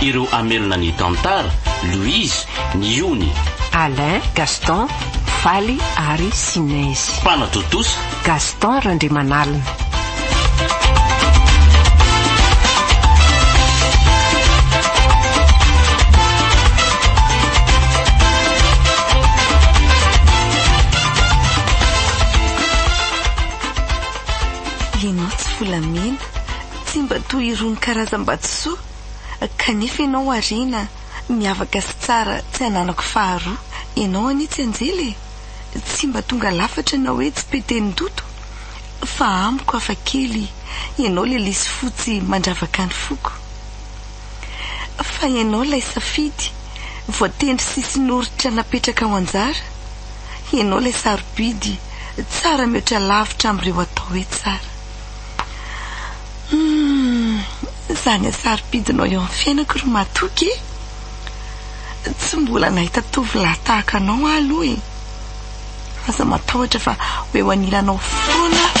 Ireo hamelona ny tantara, Louise, ny ony. Alain, Gaston, Faly ary Sinezy. Mpanatontosa. Gaston Randriamanalina. Ianao tsy volamena, tsy mba toy irony karazam-batosoa. Kanefa ianao harena, miavaka sy tsara tsy ananako faharoa Ianao anie tsy anjely e! Tsy mba tonga lafatra na hoe tsy pe tenin-doto Fa amiko hafa kely Ianao le lisy fotsy mandravaka ny foko Fa ianao lay safidy voatendry sisiny oritra napetraka ho anjara Ianao lay sarobidy tsara mihoatra lavitra amin'ireo atao hoe tsara Humm zany asarobidinao eo am fiainako ry matoky e! Tsy mbola nahita tovolahy tahaka anao aho aloha e! Aza matahotra fa ho eo anilanao foana aho.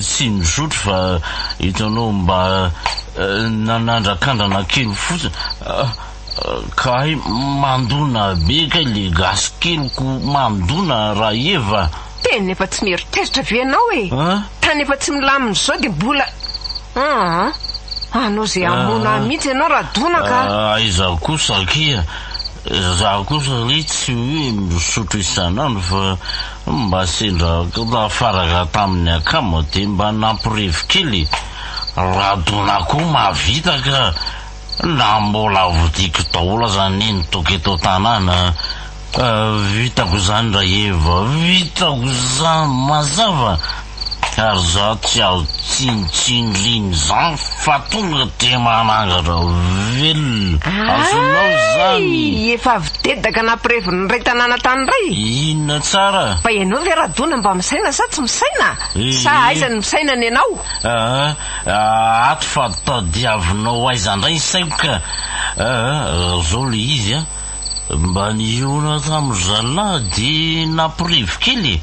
Tsy mizotry fa hitanao mba nanandrakandrana kely fotsiny kay mandona be kay le gasy keliko mandona rahefa. Tena efa tsy mieritreritra ve ianao e? Tany efa tsy milamina izao dia mbola aa! Hanao izay hamono ahy mihitsy ianao Radona ka! Aiza kosa akia! Za kosa re tsy hoe misotro isan'andro fa. Mba sendra nafarana tamin'ny akama dia mba nampirevy kely radona koa mahavita ka na mbola vidiko daholo aza anie ny toaka eto an-tanàna vitako izany Rahev vitako izany mazava Ary za tsy azo tsinotsino liny zan fa tonga de manangatra velona. Azonao zany. Ay! Efa avy dedaka nampirevin'ny ray tanàna tany ray. Inona tsara? Fa ianao ve Radona mba misaina sa tsy misaina? Sa aiza ny misaina ny anao? Aa ato fa tadiavinao aiza ndray ny saiko ka. Aa raha zao le izy a, mba nihaona tamin'ny zalahy de nampirevy kely e.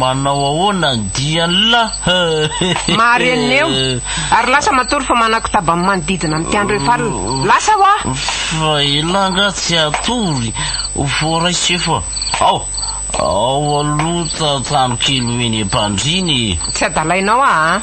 Manao ahoana ny dianla? Mahareneo. Ary lasa matory fa manakotaba ny manodidina ny mpiandry efa alina. Lasa hoa! Fa elah nga tsy hatory voaraisy efa ao ao aloha tantano kely ho eny am-pandriana e. Tsy adalainao aa.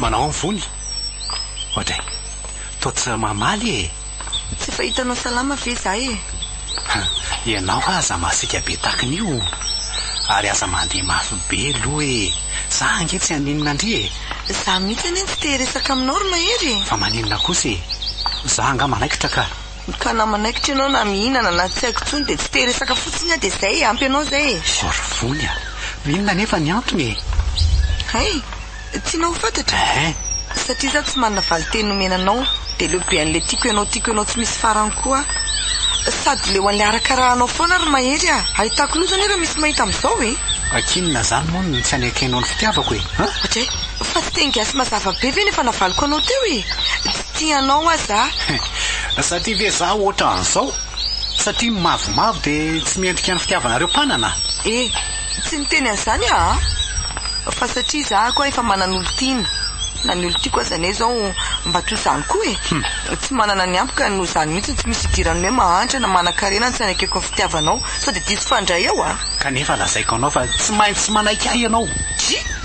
Manao ny vony. Ohatry e. Toa tsy mamaly e. Tsy efa hitanao salama ve izahay e. Ha, ianao aza masiaka be takin'io. Ary aza mandeha mafy be loha e. Za ange tsy haninona ndry e. Za mihitsy anie tsy te hiresaka aminao ry Mahery e. Fa maninona kosa e. Za angaha manaikitra ka. Ka na manaikitra ianao na mihinana na tsy haiko intsony dia tsy te hiresaka fotsiny aho dia izay e! Ampy anao izay e! Sorvony a! Inona anefa ny antony e? Hay! Tianao ho fantatra? Ehe! Satria izaho tsy manana valin-teny nomena anao dia leo be an'ilay tiako ianao tiako ianao tsy misy farany koa aho. Sady leo an'ilay arakarahanao foana ry Mahery a! Ahitako loza anie raha misy mahita amin'izao e! Ankinina izany moa no tsy anekenao ny fitiavako e! An? Ohatray! Fa tsy teny gasy mazava be ve ny efa navaliko anao teo e! Tia anao hoa za. Za tia ve za ohatran'izao? Satria ny mavomavo dia tsy mendrika ny fitiavanareo mpanana? E! Tsy niteny an'izany aho a! Fa satria za koa efa manana olon-tiana. Na ny olon-tiako aza anie izao mba toy izany koa e! Tsy manana ny ampy ka noho izany mihitsy no tsy misy idiran'ny hoe mahantra na manan-karena ny tsy anekeko ny fitiavanao. Sao dia diso fandray eo a! Kanefa lazaiko anao fa tsy maintsy manaiky ahy ianao. Dry!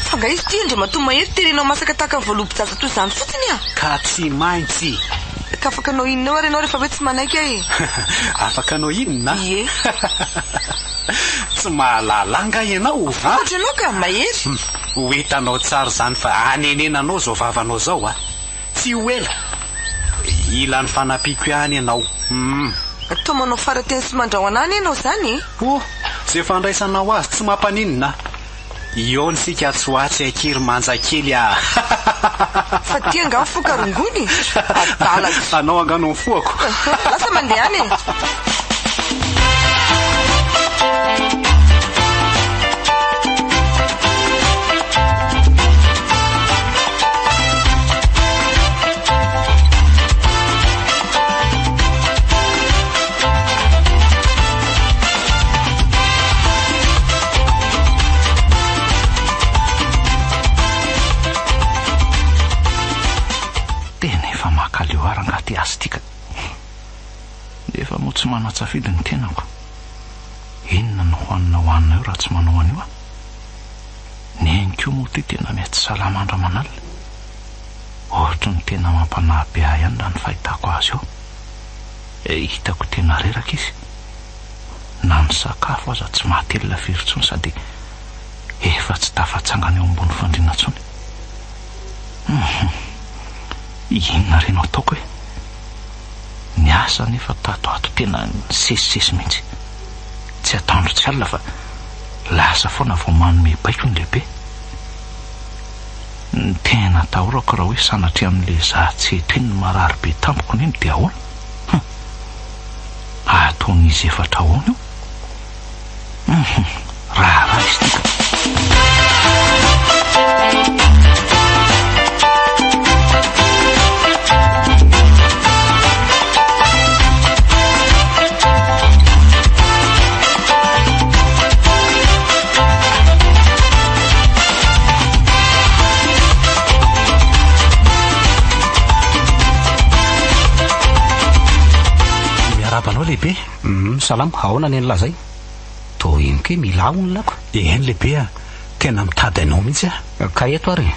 Fa nga izy ty Andriamatoa Mahery terenao masaka tahaka ny voalobojaja toy izany fotsiny a! Ka tsy maintsy. Ka afaka hanao inona eo ary ianao rehefa hoe tsy manaiky aho e? Afaka hanao inona? Ie. Tsy mahalala ahy nga ianao o? Fantatro ianao ka, Mahery. Ho hitanao tsara izany fa hanenenanao izao vavanao izao a! Tsy ho ela. Hila ny fanampiako ihany ianao. Hum. Toa manao farateny sy mandrahona any ianao izany e! Oh! Izay fandraisanao azy tsy mampaninona. Ihaona isika atsy ho atsy akia ry manja kely a! Fa ty angaha mifoha ka rongony e! Adalako! Anao angaha no nifohako? Lasa mandeha any e! Tena efa makaleo ary angaha te azy ity ka. Nefa moa tsy manan-tsafidy ny tenako. Inona no hohanina hohanina eo raha tsy manao an'io aho? Ny ainy koa moa ity tena miha tsy salama andro aman'alina. Ohatry ny tena mampanahy be ahy ihany raha ny fahitako azy eo. Hitako tena reraka izy. Na ny sakafo aza tsy mahatelina firy intsony sady efa tsy tafatsangana eo ambony fandriana intsony. Hum. Inona re no ataoko e? Niasa anefa tato ato tena nisesisesy mihitsy. Tsy ataondry tsy alina fa lasa foana vao manome baiko ny lehibe. Ny tena atahorako raha hoe sanatria amin'ilay zaza tsy eto iny ny marary be tamiko neny dia ahoana? Hum. Ataon'izy efatra ahoana io? Hum. Raharaha izy ity ka. Miarabanao lehibe. Hum, salama. Ahoana ny an'lah zay? Toa henoko hoe milà hono lako. Eny lehibe a. Tena mitady anao mihitsy aho. Ka eto ary e.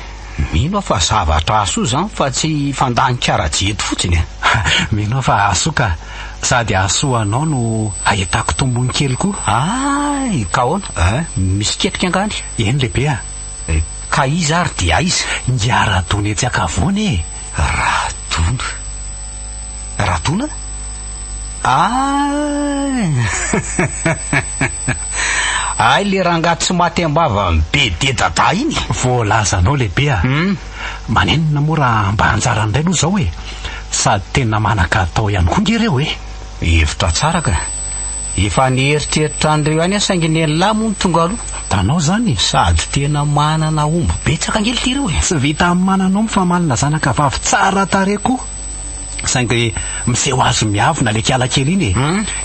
Mino aho fa zavatra hahasoa izany fa tsy hifandanika rajia eto fotsiny e. Mino aho fa hahasoa ka. Sady hahasoa anao no hahitako tombony kely koa. Hay! Ka ahoana? Hay! Misy ketrika angaha ny? Eny lehibe a. Ka iza ary dia aiza? Ingahy Radony etsy an-kavoana e. Radona? Radona? Aah! Ay le rangahy tsy maty am-bava am BD Dadah iny. Voalazanao lehibe a! Manenina moa raha mba anjarany indray aloha izao e! Sady tena manakatao ihany koa nge reo e! Hevitra tsara ka! Efa nieritreritra an'ireo ihany aho saingy ny an'lah moa no tonga aloha. Tanao zany e, sady tena manana omby betsaka ange lty reo e. Tsy vita amin'ny manana omby fa manana zanaka vavy tsara tarehy koa. Saingy miseho azy miavona le kiala kely iny e.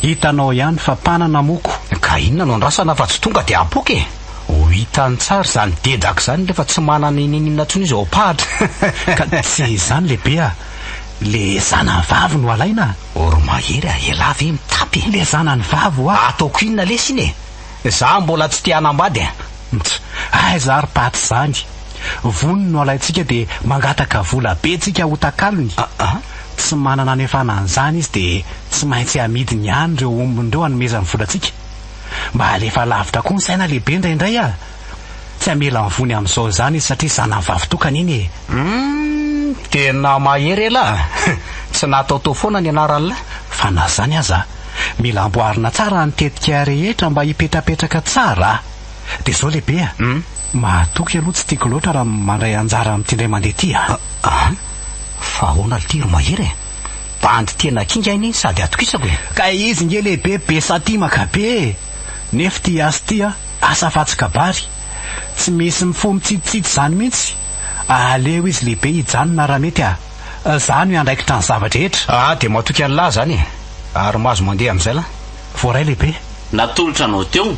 Hitanao ihany fa mpanana moko. Ka inona no andrasana fa tsy tonga dia apoka e. Ho hitany tsara izany dedaka izany nefa tsy manana inin'inona intsony izy ao am-pahatra. Ka tsy izany lehibe a. Le zanany vavy no alaina a. Or mahery a! Elah ve mitapy e! Le zanany vavy wa ataoko inona lesy iny e! Za mbola tsy te hanambady e! Ntsy! Aiza ary paty zany! Voniny no alaintsika de mangataka vola be tsika ho takalony! Aa! Tsy manana anefana an'izany izy de tsy maintsy amidiny ihany reo ombiny reo anomezany volantsika! Mba alefa lavitra koa ny saina lehibe indraindray a! Tsy hamela ny vony amin'izao izany izy satria zanany vavitokana iny e! Humm! Tena mahery elah a! Tsy nataotao foana ny anaran'la. Fa na izany aza, mila amboarina tsara ny tetika rehetra mba hipetrapetraka tsara a! Dia izao lehibe a! Humm! Mahatoky aloha tsy tiako loatra raha mandray anjara amin'ity indray mandeha ity a! Aa! Fa ahoana ity ry mahery e! Bandy tena kinga iny sady atokisako e! Kay izy nge lehibe be satimaka be e! Nef tia azy ity a! Asa fatsy kabary. Tsy misy mifoha mitsitsitsitsy zany mintsy. Aleo izy lehibe hijanona raha mety a. Za no hiandraikitra ny zava-drehetra. Aa dia matoky Allah zany e. Ary mahazo mandeha amizay lah. Voaray lehibe. Natolotra anao teo.